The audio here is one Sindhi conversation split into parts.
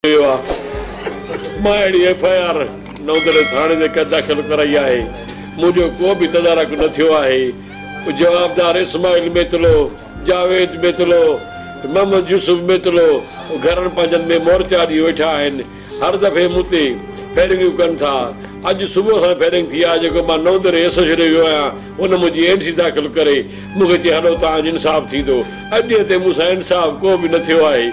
ويو آ مان اهڙي ايف آء آر نوندڙي ٿاڻي تي ڪنهن داخل ڪرائي آهي منهنجو ڪو به تدارڪ نه ٿيو آهي جوابدار اسماعيل ميتلو جاويد ميتلو محمد يوسف ميتلو گهرن پنهنجن ۾ مورچا ڏئي ويٺا آهن هر دفعي مون تي فيرنگيون ڪن ٿا اڄ صبح سان فيرنگ ٿي آهي جيڪو مان نوندڙي ايس ايڇ ڏي ويو آهيان ان منهنجي اين سي داخل ڪري مون کي چي هلو تهان جو انصاف ٿيندو اڄ ڏينهن تائين مون سان انصاف ڪو به نه ٿيو آهي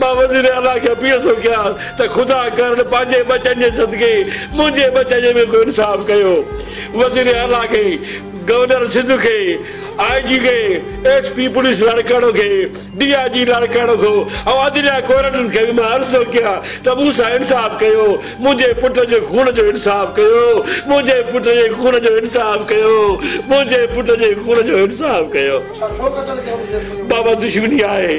مان وزير اعليٰ کي اپيل ٿو ڪيان ته خدا ڪرڻ پنهنجي ٻچن جي صدقي منهنجي ٻچن جو به ڪو انصاف ڪيو. وزير اعليٰ کي، گورنر سنڌ کي، آء جي کي، ايس پي پوليس لاڙڪاڻو کي، ڊي آء جي لاڙڪاڻو کي ۽ عدليه ڪورٽن کي به مان عرض ٿو ڪيان ته مون سان انصاف ڪيو، منهنجي پٽ جي خون جو انصاف ڪيو، منهنجي پٽ جي خون جو انصاف ڪيو، منهنجي پٽ جي خون جو انصاف ڪيو. بابا دشمني آهي.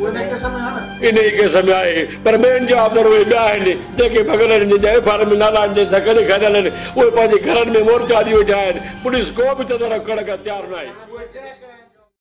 انهيء ڪيس ۾ آهي، پر ٻين جا عابدار اهي ٻيا آهن، جن کي ڀڳل آهن، جن جا ايف آء آر ۾ نالا آهن، جن سان گڏ گڏيل آهن، اهي پنهنجي گهرن ۾ مورچا اڏي ويٺا آهن، پوليس ڪو به تدارڪ ڪرڻ کان تيار ناهي.